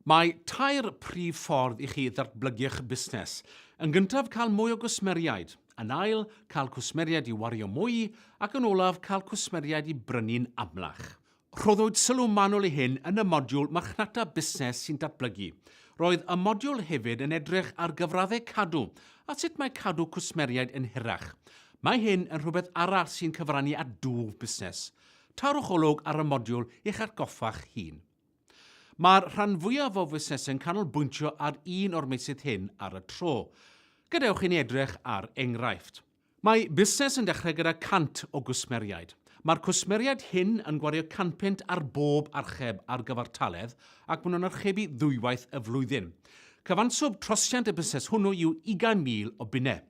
Mae tair prif ffordd i chi ddatblygu'ch busnes. Yn gyntaf, cael mwy o gwsmeriaid. Yn ail, cael cwsmeriaid i wario mwy, ac yn olaf, cael cwsmeriaid i brynu'n amlach. Rhoddwyd sylw manwl i hyn yn y modiwl Marchnata Busnes sy'n Datblygu. Roedd y modiwl hefyd yn edrych ar gyfraddau cadw a sut mae cadw cwsmeriaid yn hirach. Mae hyn yn rhywbeth arall sy'n cyfrannu at dwf busnes. Tarwch olwg ar y modiwl i'ch atgoffa'ch hun. Mae'r rhan fwyaf o fusnesau'n canolbwyntio ar un o'r meysydd hyn ar y tro. Gadewch i ni edrych ar enghraifft. Mae busnes yn dechrau gyda 100 o gwsmeriaid. Mae'r cwsmeriaid hyn yn gwario canpunt ar bob archeb ar gyfartaledd ac maen nhw'n archebu ddwywaith y flwyddyn. Cyfanswm trosiant y busnes hwnnw yw 20,000 o bunnau.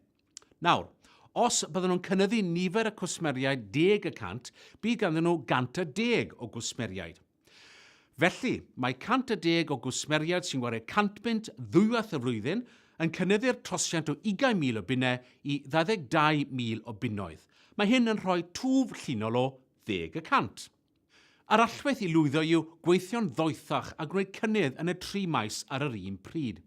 Nawr, os bydden nhw'n cynyddu nifer y cwsmeriaid deg y cant, bydd ganddyn nhw 110 o gwsmeriaid. Felly, mae 110 o gwsmeriaid sy'n gwario 100 bunt ddwywaith y flwyddyn yn cynyddu'r trosiant o 20,000 o bunnau i 22,000 o bunnoedd. Mae hyn yn rhoi twf llinol o ddeg y cant. Yr allwedd i lwyddo yw gweithio'n ddoethach a gwneud cynnydd yn y tri maes ar yr un pryd.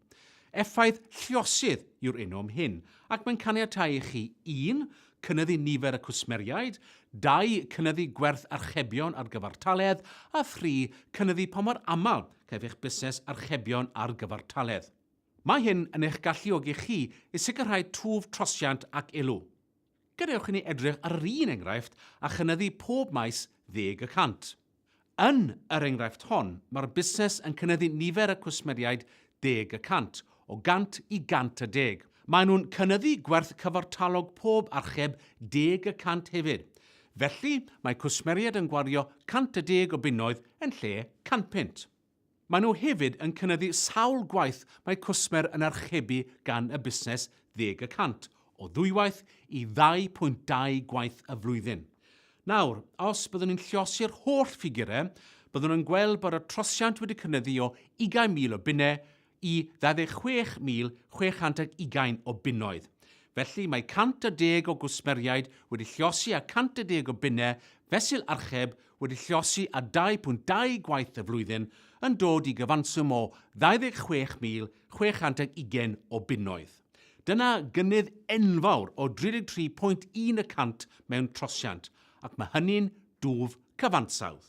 Effaith lluosydd yw'r enw am hyn, ac mae'n caniatáu i chi, un, cynyddu nifer y cwsmeriaid, dau, cynyddu gwerth archebion ar gyfartaledd, a thri, cynyddu pa mor aml caiff eich busnes archebion ar gyfartaledd. Mae hyn yn eich galluogi chi i sicrhau twf trosiant ac elw. Gadewch i ni edrych ar yr un enghraifft a chynyddu pob maes ddeg y cant. Yn yr enghraifft hon, mae'r busnes yn cynyddu nifer y cwsmeriaid deg y cant, o 100 i 110. Maen nhw'n cynyddu gwerth cyfartalog pob archeb deg y cant hefyd. Felly, mae cwsmeriaid yn gwario 110 o bunnoedd yn lle 100 punt. Maen nhw hefyd yn cynyddu sawl gwaith mae cwsmer yn archebu gan y busnes ddeg y cant, o ddwywaith i 2.2 gwaith y flwyddyn. Nawr, os byddwn ni'n lluosi'r holl ffigurau, byddwn yn gweld bod y trosiant wedi cynyddu o 20,000 o bunnau i 26,620 o bunnoedd. Felly, mae 110 o gwsmeriaid wedi llosi a 110 o bunnau fesul archeb wedi llosi a 2.2 gwaith y flwyddyn yn dod i gyfanswm o 26,620 o bunnoedd. Dyna gynnydd enfawr o 33.1 y cant mewn trosiant, ac mae hynny'n dwf cyfansawdd.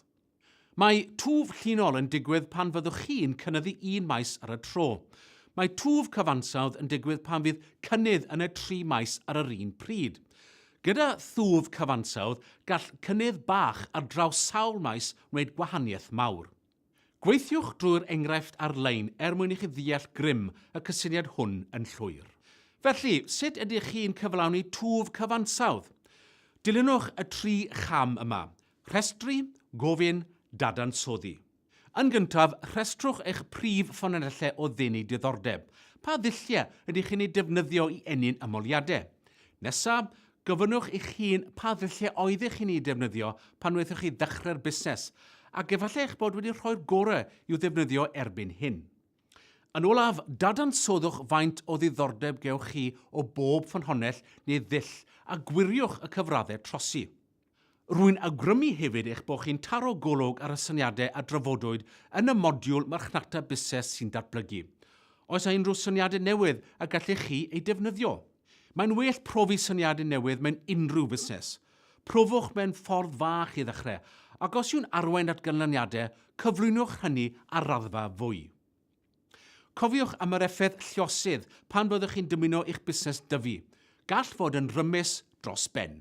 Mae twf llinol yn digwydd pan fyddwch chi'n cynyddu un maes ar y tro. Mae twf cyfansawdd yn digwydd pan fydd cynnydd yn y tri maes ar yr un pryd. Gyda thwf cyfansawdd, gall cynnydd bach ar draws sawl maes wneud gwahaniaeth mawr. Gweithiwch drwy'r enghraifft ar-lein er mwyn i chi ddeall grym y cysyniad hwn yn llwyr. Felly, sut ydych chi'n cyflawni twf cyfansawdd? Dilynwch y tri cham yma. Rhestru, gofyn, dadansoddi. Yn gyntaf, rhestrwch eich prif ffynonellau o ddenu diddordeb. Pa ddulliau ydych chi'n eu defnyddio i ennyn ymholiadau? Nesaf, gofynnwch i'ch hun pa ddulliau oeddech chi'n eu defnyddio pan wnaethoch chi ddechrau'r busnes, ac efallai eich bod wedi rhoi'r gorau i'w ddefnyddio erbyn hyn. Yn olaf, dadansoddwch faint o ddiddordeb gewch chi o bob ffynhonnell neu ddull a gwiriwch y cyfraddau trosi. Rwy'n awgrymu hefyd eich bod chi'n taro golwg ar y syniadau a drafodwyd yn y modiwl Marchnata Busnes sy'n Datblygu. Oes yna unrhyw syniadau newydd y gallech chi eu defnyddio? Mae'n well profi syniadau newydd mewn unrhyw fusnes. Profwch mewn ffordd fach i ddechrau, ac os yw'n arwain at ganlyniadau, cyflwynwch hynny ar raddfa fwy. Cofiwch am yr effaith lluosydd pan fyddwch chi'n dymuno i'ch busnes dyfu. Gall fod yn rymus dros ben.